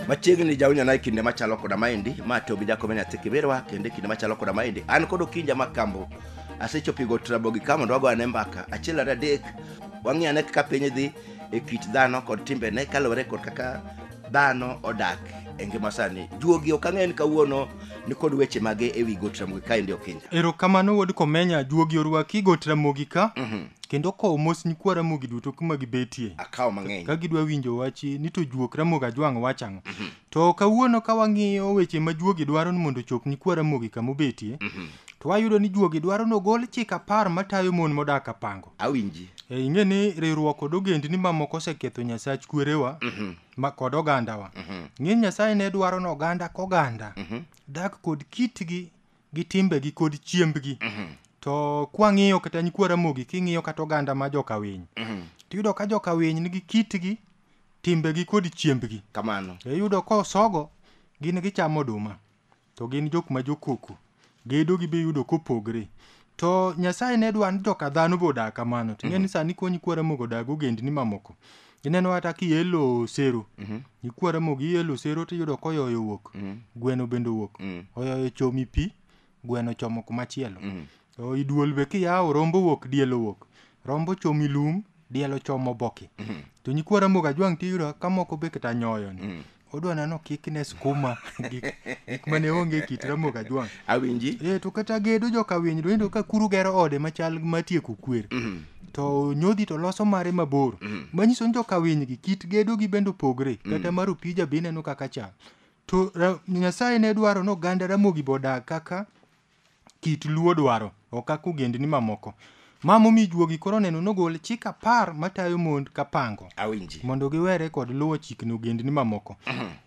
machiegni jawinjo na e kinde machalo koda maendi ma to gi jakome nyathi kiberwa kendo e kinde machalo koda maendi an kod okinja ma kambo asechopigo trabo gi ka mondo wago ane mbaka achiel ariyo adek wang'i ane kaka piny dhi e kit dhano kod timbene kaluwore kod kaka dhano odak e ngima sani juogi ok ang'e ni kawuono nikod weche mage e wi got ramogi kaendi okinja erokamano wuod komenya juogi orwaki got ramogi ka kendo kowo mos nyikwa ramogi duto kuma gibetie akawo mang'eny ka gidwa winjo wachi ni to juok ramogi ajwang' wach ang'o to kawuono ka wang'iyo weche ma juogi dwaro ni mondo ochop nyikwa ramogi kama obetie to wayudo ni juogi dwaro ni ogol chik apar matayo mon modak apango Awinji. E, ing'e ni riwruok kod ogendni mamoko oseketho nyasach kwerewa ma kod ogandawa ng'e nyasaye ne dwaro ni oganda koganda dak kod kitgi gi timbegi kod chiembgi to kwang'iyo kata nyikwa ramogi king'iyo kata oganda ma joka winy tiyudo ka joka winy nigi kitgi timbegi kod chiembgi Kamano. iyudo ka osogo gin gichamo oduma To gin jok ma jokoko. Gedo gi be yudo kopogre. To Nyasaye ne dwa ni to ka dhano bodak kamano. To ing'e ni sani kony ikwara mogo odag ogendni mamoko. Ineno kata kielo sero. Ikwara mogo ielo sero tiyudo koyoyo owuok. Gweno bende owuok. Oyoyo chomi pi, gweno chomo kumachielo. To i duol be kiyawo rombo wuok diel owuok. Rombo ochomi lum, diel ochomo oboke. To nyikwa Ramogi Ajwang' tiyudo ka moko be kata nyoyo ni. Odwa neno okikne skuma gik gik mane onge e kit Ramogi Ajwang'. Awinji. Eh, to kata gedo joka winy to ineno ka kuru gero ode machal ma tieko kwer. To nyodhi to loso mare mabor. Manyiso ni joka winy gi kit gedo gi bende opogre. Kata mar opija be ineno kaka chal. To ra, Nyasaye ne dwaro ni oganda Ramogi be odag kaka kit Luo dwaro ok kaka ogendni mamoko. Ma momi juogi koro oneno nogol chik apar matayo mond ka pango Awinji. mondo giwere kod luwo chikni ogendni mamoko.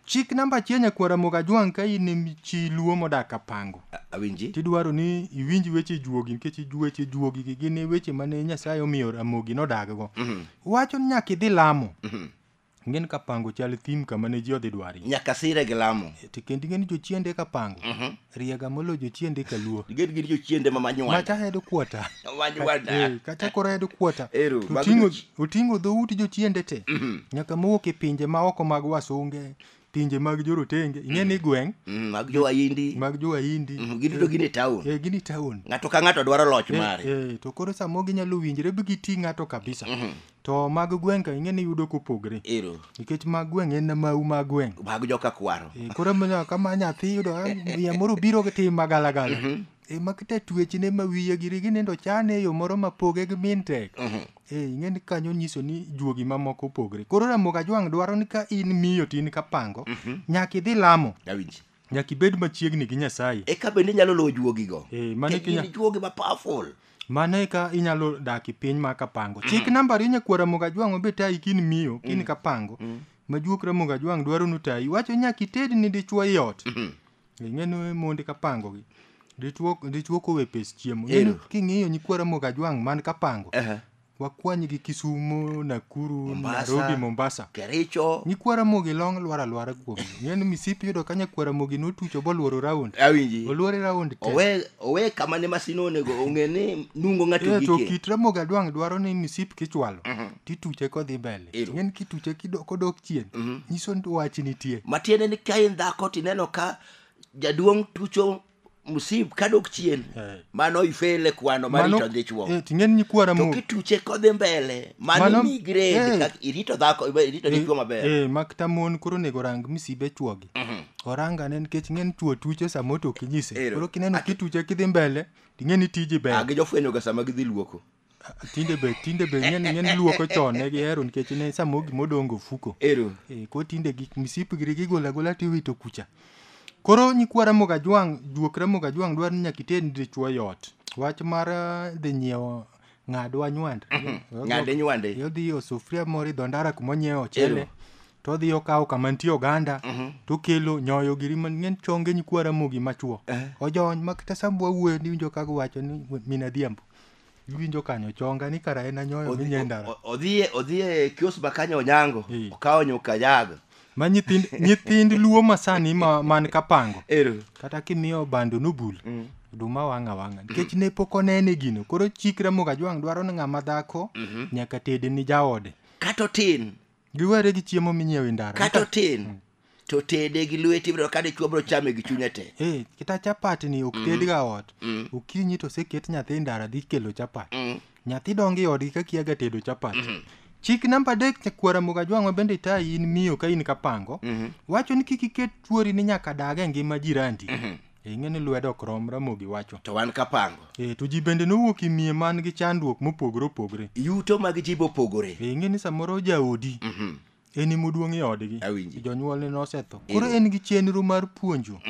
Chik namba achiel nyakwar Ramogi Ajwang' ka in em chi Luo modak ka pango A- Awinji. tidwaro ni iwinj weche juogi nikech ju- weche juogi gi gin weche mane Nyasaye omiyo Ramogi nodaggo. Wacho ni nyaka idhi lamo. Ng'en ka pango chal thim kama ne ji odhi dwari. Nyaka sire gi lamo. E, to kendo ing'en jochiende ka pango. Mm -hmm. Riega molo jochiende ka luo. Gin gin jochiende ma manyuanda. Macha hedo kuota. Manyuanda. E, eh, kata kora hedo kuota. Eru. Utingo, utingo dho uti jochiende te. Mm -hmm. Nyaka mowok e pinje ma oko mag wasunge. pinje mag jorotenge ing'e ni gweng' Mm, mag jowahindi mag jowahindi Mm, gin to gin e taon eh, gin e taon ng'ato ka ng'ato dwaro loch Eh, mare eh, to koro samo ginyalo winjre bi giti ng'ato kabisa Mhm. to mag gweng' ka ing'e ni yudo kopogre ero nikech mag gweng' en mau mag gweng' mag joka kwaro Eh, koro mana kama nyathi yudo ah, miya moro biro gi tim magalagala e makta tuechne ma wiye giri ginindo chane e yo moro ma poge gi min tek Mhm. Ee, ing'e ni kanyo nyiso ni juogi mamoko opogre. Koro Ramogi Ajwang' dwaro ni ka in miyo to in kapango, nyaka idhi lamo, Awinji. nyaka ibed machiegni gi Nyasaye. E ka bende inyalo lowo juogigo. Eh, mano Ke- kinya- gin juogi ma powerful. Mano e ka inyalo dak e piny ma kapango. Chik namba ariyo nyakuo Ramogi Ajwang' obe tayi kin miyo, kin kapango. Majuok Ramogi Ajwang' dwaro ni otayi. Wacho nyaka ited ni dichwo ei ot. Ing'eno e monde kapango gi. Dichuo dichuo kowe pes chiemo. Ero. Ing'eno king'iyo nyikwara Mogajwang' man kapango. Aha. Wakwany gi Kisumo, Nakuru, Mombasa. Nairobi, Mombasa. Kericho. Nyikwara Mogi long lwar alwara kuom. Ing'eno misipi yudo ka nyakwara Mogi notucho boluoro round. Awinji. Oluore round te. Owe owe kama ne masino onego ong'e ni nungo ng'ato Eh, to gike. kit Ramogi Adwang' dwaro ni misip kichwalo. tituche kodhi mbele Ero. ing'eni kituche kido- kodok chien nyiso ni wach nitie matiende ni ka in dhako tineno ka jaduong' tucho msip kadok chien Eh. mano ifele kwano marito dhi chuo eh, ting'eni nyikwa to ramogi kituche kodhi mbele mano Mano- mi grade eh. kaka irito dhako irito dichuo maber Eh, makta mon koro onego rang misibe chuogi orang ane nikech ing'eni chuo tuche sama otoki nyise Ero. koro kineno kituche kidhi mbele ting'eni tiji Ah, ber gijofwenyoga sama gidhi luoko tinde be tinde be ng'en ng'en luoko chon ne gihero nikech ne samo gima odongo fuko ero e, ko tinde gik misip giri gigolo agola tiwito kucha koro nyikwa Ramogi Ajwang' juok Ramogi Ajwang' dwaro ni nyaka iter ni dichwo e ot wach mar eh, dhi nyiewo ng'adwa nywand ng'ade nywande odhi osufria moro idho ndara kuma onyiewo Ero. ochele to odhi okawo kama nitie oganda to okelo nyoyo giri man ng'en chonge nyikwa Ramogi machwo ojony ma kata sambo wawuoyo niwinjo ka giwacho ni min adhiambo iwinjo kanyo chonga ni kara en anyoyo Odhi- minye ndara o- o- odhiye odhiye kios makanya onyango Eh. okawo nyuka yago ma nyithind nyithind luo masani ma man kapango ero kata kimiyo bando nobul Mm. oduma wang'a wang'a nikech ne pok onene gino koro chik ramoga jwang' dwaro ni ng'ama dhako nyaka tede ni jaode kata otin giwere gi chiemo minyiewo e ndara kata otin to tede gi lweti ibiro ka dichwo biro chame gi chunye te Eh, kita chapat ni ok tedga ot Mm. okinyi to oseket nyathi e ndara dhi kelo chapat Mm. nyathi dongo e odgi ka kiaga tedo chapat chik namba adek nyakwara mogajwang'wa bende itayi in miyo ka in kapango Mhm. wacho ni kik iket tuori ni nyaka dag e ngima jirandi ing'e ni lwedo ok rom ramogi wacho to wan kapango e to ji bende nowuok e miye man gi chandruok mopogore opogore yuto mag ji bopogore ing'e ni samoro jaodi Mhm. en emoduong' e odgi Awinji. jonyuolne nosetho Ero. koro en gi chenro mar puonjo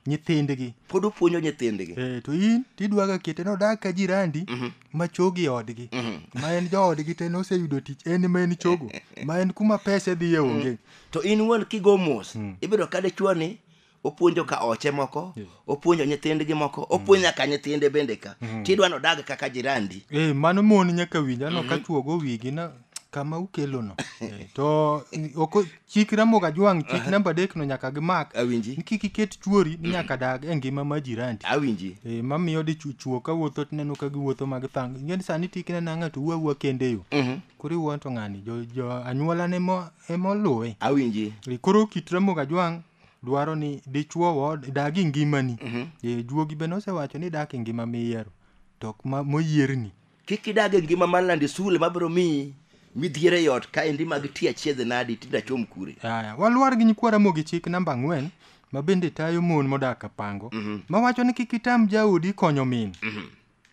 nyithindgi pod opuonjo nyithindgi Eh, to in tidwaga kete nodag ka jirandi ma chogo e odgi ma en joodgi te noseyudo tich en ma en chogo ma en kuma pese dhiye onge to in wuon kigo mos ibedo ka dichwo ni opuonjo ka oche moko opuonjo nyithindgi moko opuonjo nyaka nyithinde bende ka tidwa ni odag kaka jirandi e mano mon nyaka winj ano ka chuogo wigi na kama ukelono Eh, to mm, ok o- chik ramoga jwang' chik namba adek no nyaka gimak Awinji. ni kik iket chuori ni nyaka dag e ngima ma jirandi awinji e mamiyo di chu- chuo ka wuotho tineno ka giwuotho mag thang ingeni sani tikne na ng'ato wuo awuo kende yo koro iwuon to ng'ani jo, jo anyuolane mo- ema oluwe awinji E, koro kit ramoga jwang' dwaro ni dichuo wa dag e ngimani e juogi be nosewacho ni dak e ngima miyiero to ok ma- moyierni kik idag e ngima mar lande sule mabiro miyi midhiere e ot ka endi mag ti achiedhe nadi tinda chom kure Aya, walwar gi nyikwa Ramogi chik namba ang'wen ma bende tayo mon modak Kapango mawacho ni kik itam jaodi konyo min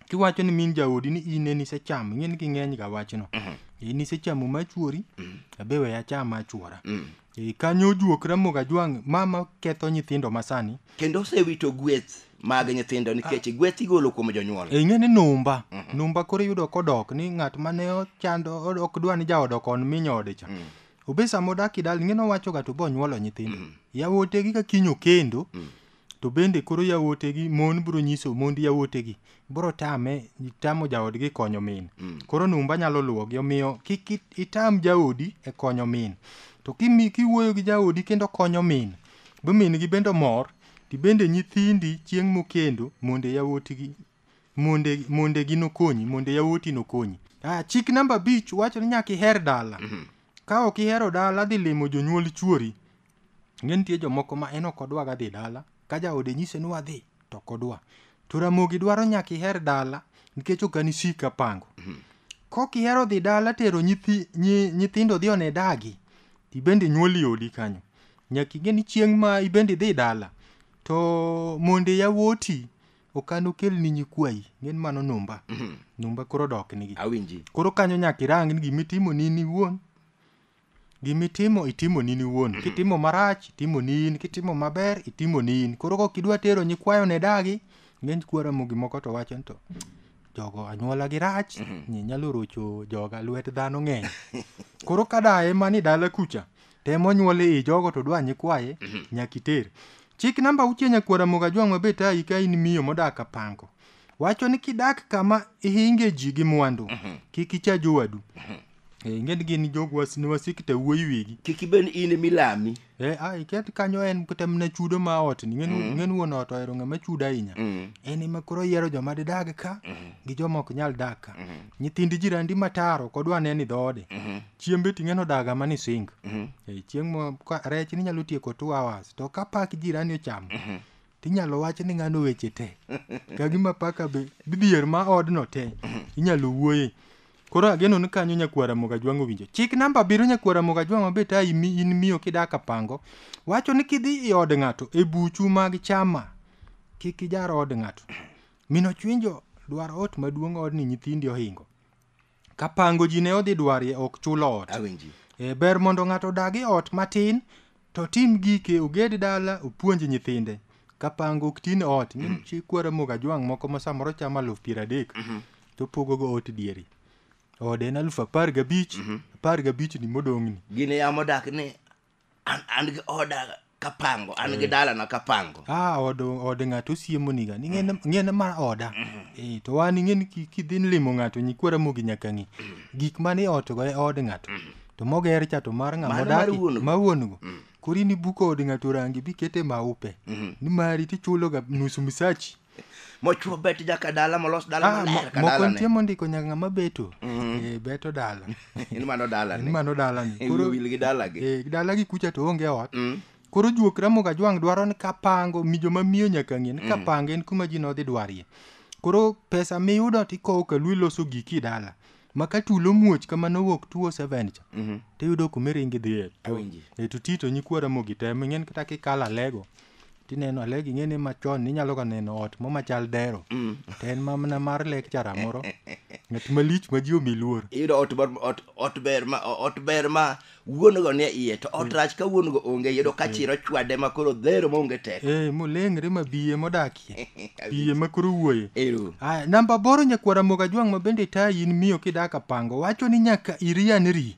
kiwacho ni min jaodi ni in ne nisechamo ing'e ni ging'eny ga wachno mm-hmm. e, nisechamo machuori mm-hmm. abe we acham achuora mm. e, kanyo ojuok ramogo ajwang' mama ketho nyithindo masani kendo osewito gweth mag nyithindo nikech ah. gweth igolo kuom jonyuol e, ing'e ni numba mm-hmm. numba koro iyudo kodok ni ng'at mane ochando ok dwa ni jaodo kon mi nyode cha mm. obe sama odak idal ing'e nowachoga to bonyuolo nyithindo mm. yawotegi ka kiny okendo mm. to bende koro yawuotegi mon biro nyiso mond yawuotegi biro tame tamo jaodgi konyo min mm. koro numba nyalo luwogi omiyo kik itam jaodi e konyo min to kimi kiwuoyo gi jaodi kendo konyo min bo min gi bende mor ti bende nyithindi chieng' mokendo monde yawuotigi monde monde gi nokonyi monde yawuoti nokonyi ah, chik namba bich wacho ni nyaka iher dala mm -hmm. ka ok ihero dala dhi limo jonyuol chuori Ing'e nitie jomoko ma en ok odwaga dhi dala, ka jaode nyise ni wadhi to ok odwa. To Ramogi dwaro nyaka iher dala nikech ok an isik apango. Kok ihero dhi dala tero nyithi, nyi, nyithindo dhi one dagi, to ibende nyuol e odi kanyo. Nyaka ing'e ni chieng' ma ibende idhi dala, to monde yawuoti ok an okelni nyikwayi, ing'e ni mano numba. Numba koro odok nigi. Awinji. Koro kanyo nyaka irang ni gima itimo ni in iwuon Gimitimo itimo ni niwuon. Kitimo marach, itimo ni in. Kitimo maber, itimo ni in. Koro kok idwa tero nyikwayo ne dagi, ng'eny kwara mo gimoko to wacho ni to jogo anyuola gi rach, ni nyalo rocho joga lwet dhano ng'eny. Koro ka daye mani dala kucha, temo nyuole i jogo to dwa nyikwaye, nyaka iter. Chik namba auchiel nyakwara moga jwang' mabe tayi ka in miyo modak apango. Wacho ni kidak kama ihinge ji gi mwandu, kik icha jowadu. Eh, ing'eni gin jogo was- ne wasik te wuoyi wigi kik ibed in ema ilami Eh, ah, iket kanyo en kata mana chudo ma ot ni ng'en ng'en wuon ot ohero ng'ama chudo ahinya en ema koro yiero joma didag ka gi joma ok nyal dak ka nyithind jirandi mataro kodwa ne ni dhoode chiembe ting'eno daga ma ni sing Eh, chieng' mo ka- rech ni nyalo tieko two hours to ka pak jirani ochamo tinyalo wach ni ng'ano weche te ka gima paka be dhier ma odno te inyalo wuoye Koro ageno ni kanyo nyakwara Mogajwang' owinjo. Chik namba abiriyo nyakwara Mogajwang' ma bet ai mi in miyo kidak Apango wacho ni kidhi i od ng'ato e buchu mag chama kik ijar od ng'ato. Mino chwinjo dwar ot maduong' odni nyithindi ohingo. Kapango ji ne odhi dwarie ok chul ot. Awinji. E, ber mondo ng'ato odag e ot matin To tim gike oged dala opuonj nyithinde kapango ok tin ot ni chi kwara mogo ajwang' moko ma samoro chamo aluf piero adek to pogogo ot dieri ode en aluf apar gabich apar gabich ni modong'ni gin e yamo dak ni an, an gi oda kapango an gi dalana kapango ah od od ng'ato osiemoniga ni ng'ene ng'ene mar oda eh to wan ing'eni ki- kidhi limo ng'ato nyikwara mogi nyaka ng'i gik mane otgo e od ng'ato to moger cha to mar ng'ama Mano mar odaki wuon-go. ma wuon-go Mm. koro in ibuko od ng'ato rangi bikete maupe Mhm. ni mari tichuloga nus misachi mochuo bet jaka dala molos dala Ah, mo- maler ka moko nitie dalane mondiko nyaka ng'ama beto Mhm. Eh, beto dala in mano en dalane mano dalani Ewi koro wil gi dalagi eh, dalagi kucha to onge ot Mm. koro juok ramoga jwang' dwaro ni kapango mi joma miyo nyaka ng'e ni kapango en kuma ji nodhi dwarie koro pesa miyudo tikowo ka lu iloso giki dala ma ka tulo muoch kamano owuok 207 cha Mhm. tiyudo kuma iringi dhi e to Awinji. e to tito nyikwa ramogi te ming'en kata kikalo alego tineno alego ing'e ni machon ninyalo ka neno ot mo machal dero to en mamna mar lecture moro ng'at malich ma ji omi luor Iyudo ot ber ot ot ber ma ot ber ma wuon go nie iye to ot rach ka wuon go onge yudo ka chiro chwade ma koro dhero maonge teko eh molengre ma biye modakie biye ma koro wuoye ero Aya, namba boro nyakwara moga jwang' ma bende ta in miyo kidaka pango wacho ni nyaka irianri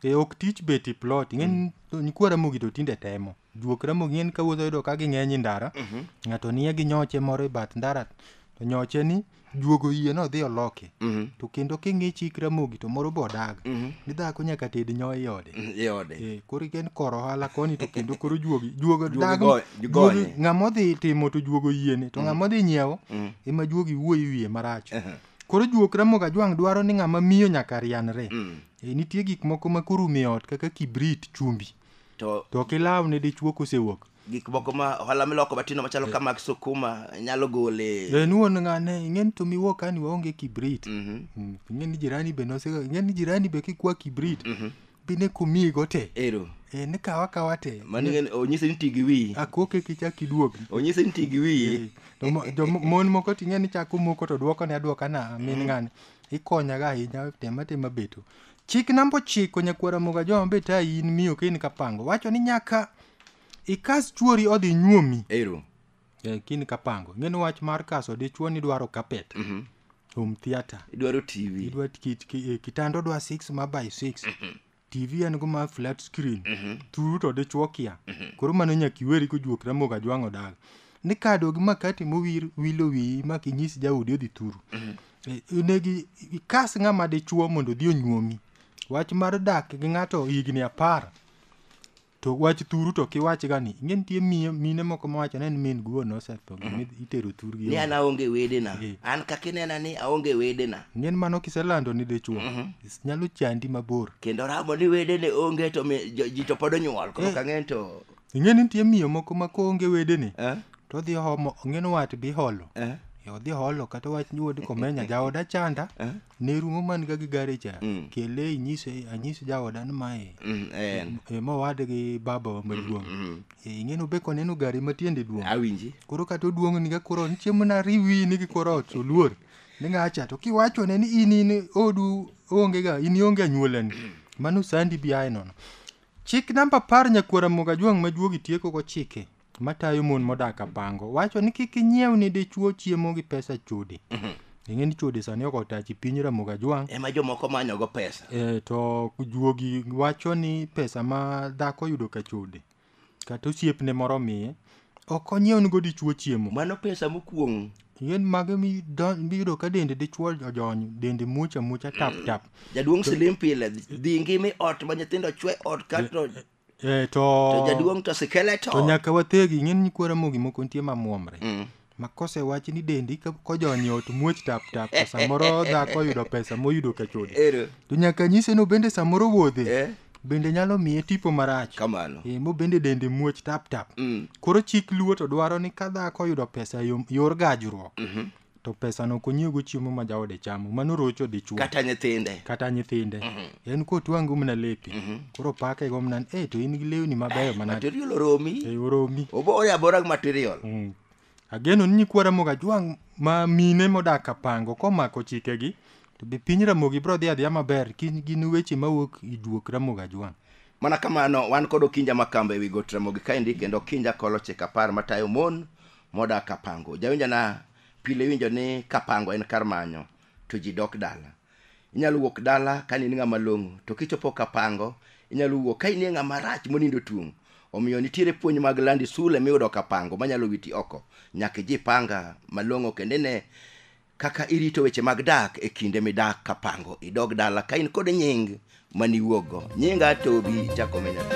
e ok tich beti plot ng'eny nyikwara mogi to tinde temo Juok remo gin ka wuotho yudo ka ging'eny e ndara. Mhm. Ng'ato nie gi nyoche moro e bath ndara. To nyoche ni juogo yie no dhi oloke. Mhm. To kendo king'i chik ramogi to moro bodag. Mhm. Ni dhako nyaka ted nyo e ode. Mm, e ode. Eh, koro iken koro hala koni to kendo koro juogi. Juogo dag. Juogi ng'amo dhi timo to juogo yie ni. To mhm. ng'amo dhi nyiewo. Mhm. Ema juogi wuoyi wiye marach. Uh -huh. Koro juok ramoga jwang' dwaro ni ng'ama miyo nyaka rianre. Mm. E, nitie gik moko ma koro mi ot kaka kibrit chumbi. to to ok ilaw ne dichwo kosewuok gik moko ma ohala miloko matindo machalo ka mag sukuma nyalo gole en wuon ng'ane ing'eni to miwuok kani waonge kibrit Mhm. Mm, ing'eni jirani be nosega ing'eni jirani be kikwa kibrit be ne komiyigo te ero Eh, ne kawa kawa te mano ing'eni onyise ni ti gi wiyi akoke kichak iduogi onyise ni ti gi wiyi To mo- jo- mon moko ting'e ni chako moko to dwoko ne adwoka na min ng'ani ikonyaga ahinya tema tema beto Chik namba ochiko nyakwar Ramogi Ajoma be tayi in miyo ka in kapango wacho ni nyaka ikas chuori odhi nyuomi Ero. eh, ka in kapango ing'e ni wach mar kaso dichuo ni dwaro kapet Mhm. home theatre Idwaro TV. idwa kit- ki- eh, kitanda odwa 6 ma by 6 tv en go ma flat screen thuru to dichuo kia koro mano nyaka iweri kojuok Ramogi Ajwang' odag ni kado gi makati mowir wilo wiyi ma kinyis jaudi odhi thuru inegi ikas ng'ama dichuo mondo odhi onyuomi wach mar dak gi ng'ato higni apar to wach thuru to kiwach ga ni ing'e nitie miyo- mine moko mawacho ni en min guon osetho gima itero thurgi ni an aonge wedena Eh. an kaka inena ni aonge wedena ng'en mano kiselando ni dichuo nyalo chandi mabor kendo ramo ni wedene onge to mi- jo- ji to pod onyuol koro Eh. kang'en to Ing'e ni nitie miyo moko ma koonge wedene Eh? to odhi ohomo ong'eno wat bi holo. Eh? E, Odhi holo kata wach ni wuod komenya jaoda chanda Eh? ne rumo man ga gi gari cha Mm. kele inyise anyise jaoda ni mae Mm, en. e, mowad gi baba maduong'. Mm. E, Ing'eno be koneno gari ma tiende duong'. Awinji. Koro kata oduong' ni ga koro ni chiemo na riwi ni gi koro ot oluor. Ni ng'acha to kiwachone ni in in odu onge ga in ionge anyuolani. Mano sandi bi aye nono. Chik namba apar nyakuo Ramogi Ajwang' ma juogi tiekogo chike matayo mon modak Apango wacho ni kik inyiew ni dichwo chiemo gi pesa chode. Ing'e ni chode sani ok otachi piny Ramogi Ajwang'. Ema jomoko manyogo pesa. E, to juogi wacho ni pesa ma dhako yudo ka chode kata osiepne moro miye Ok onyiewnigo dichwo chiemo. Mano pesa mokuong'. Yien mage miyudo ka dende dichwo ojony, dende muoch amuocha tap tap. Jaduong' silim pile, dhi ngimi ot ma nyithindo chwe ot kato Eh, to to jaduong' to sikele to to. nyaka wathegi ing'eni nyikwara mogi moko nitie mamwomre Mm. ma kosewachi ni dendi ka- kojony ot muoch tap tap to samoro dhako oyudo pesa moyudo kachode Ero. to nyaka nyise no bende samoro wuodhe Eh. bende nyalo miye tipo marach kamano e, mo bende dende muoch tap tap mm. koro chik luo to dwaro ni ka dhako oyudo pesa yor gajruok mm -hmm. to pesa no konyiego chiemo ma jaode chamo mano rocho dichuo kata nyithinde kata nyithinde mm -hmm. en kotwangu mna lepi mm -hmm. koro pake go mnan e eh, to in gi lewni mabeyo eh, manade material oromi e, oromi obore abora gi material mm. Ageno ni nyikwa Ramogi Ajwang' ma mine modak Kapango komako chikegi to be piny Ramogi biro dhi adhiya maber kin gin weche mawuok i juok Ramogi Ajwang'. Mana kamano, wan kod Okinja Makamba ewi got Ramogi kaendi kendo Okinja kolo chik apar matayo mon modak Kapango. Jawinjona pile iwinjo ni Kapango en kar manyo to ji dok dala. inyalo wuok dala ka in ng'ama long'o to kichopo kapango inyalo wuok ka inie ng'ama rach monindo tung' omiyo nitiere puonj mag landi sule miyudo kapango manyalo witi oko nyaka iji panga malong'o kendo ine kaka irito weche mag dak e kinde midak kapango idog dala ka in kod nying mane iwuok go nyinga tobi jakome nyathi